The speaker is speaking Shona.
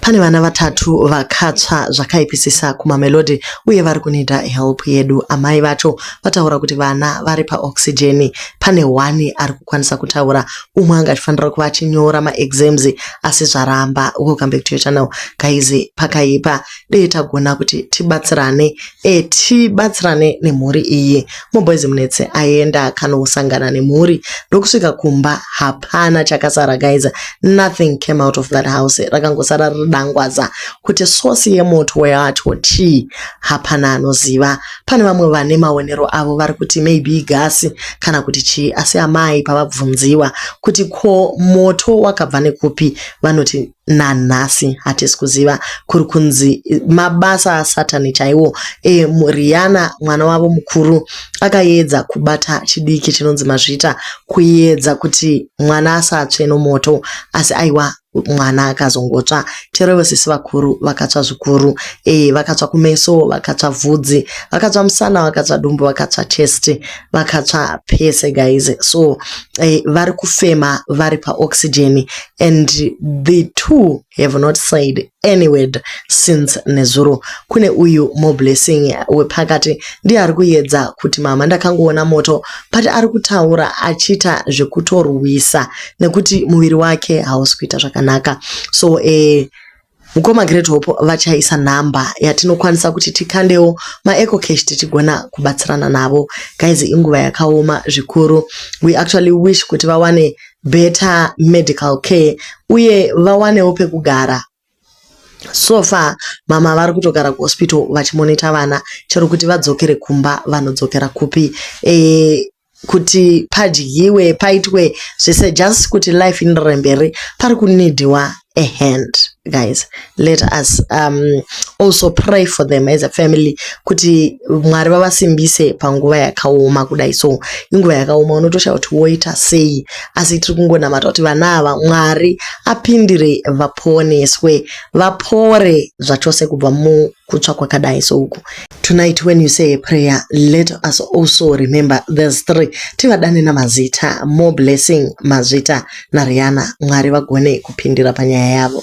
Pane vana vatatu vakatsva zvakaipisisa kuMamelodi uye vari kunida help yedu. Amai vacho vataura kuti vana vari paoxygen. Pane one ari kukwanisa kutaura, umwe anga achifanira kuva achinyora maexams asi zvaramba. Welcome back to your channel guys, pakaipa dei tagona kuti tibatsirane e, tibatsirane nemhuri iyi muboys munetse aenda akanosangana nemhuri ndokusvika kumba hapana chakasara guys nothing came out of that house rakangosara riri dangwaza kuti source yemoto wacho chii hapana anoziva pane vamwe vane maonero avo vari kuti maybe gasi kana kuti chii asi amai pavabvunziwa kuti ko moto wakabva nekupi vanoti nanhasi hatisi kuziva kuri kunzi mabasa asatani chaiwo e, riana mwana wavo mukuru akayedza kubata chidiki chinonzi mazvita kuyedza kuti mwana asatsve nomoto asi aiwa mwana akazongotsva terevo sisi vakuru vakatsva zvikuru e, vakatsva kumeso vakatsva vhudzi vakatsva musana vakatsva dumbu vakatsva chest vakatsva pese guys so e, vari kufema vari paoxygen and the two have not said any word since nezuro kune uyu moblessing wepakati ndiye ari kuyedza kuti mama ndakangoona moto but ari kutaura achiita zvekutorwisa nekuti muviri wake hausi kuita zvakanaka so eh, Mukoma Great Hope vachaisa number yatinokwanisa kuti tikandewo maeco cash tichigona kubatsirana navo guys inguva yakaoma zvikuru we actually wish kuti vawane better medical care uye vawanewo pekugara so far mama vari kutogara kuhospital vachimonita vana chero kuti vadzokere kumba vanodzokera kupi e, kuti padyiwe paitwe zvese just kuti life inderere mberi pari kunidiwa a hand guys let us um, also pray for them as a family kuti mwari vavasimbise panguva yakaoma kudai so inguva yakaoma unotoshaya kuti woita sei asi tiri kungonamata kuti vana ava mwari apindire vaponeswe vapore zvachose kubva mu kutsva kwakadai souku tonight when you say a prayer let us also remember these three tivadane namazita more blessing mazvita nariana mwari vagone kupindira panyaya yavo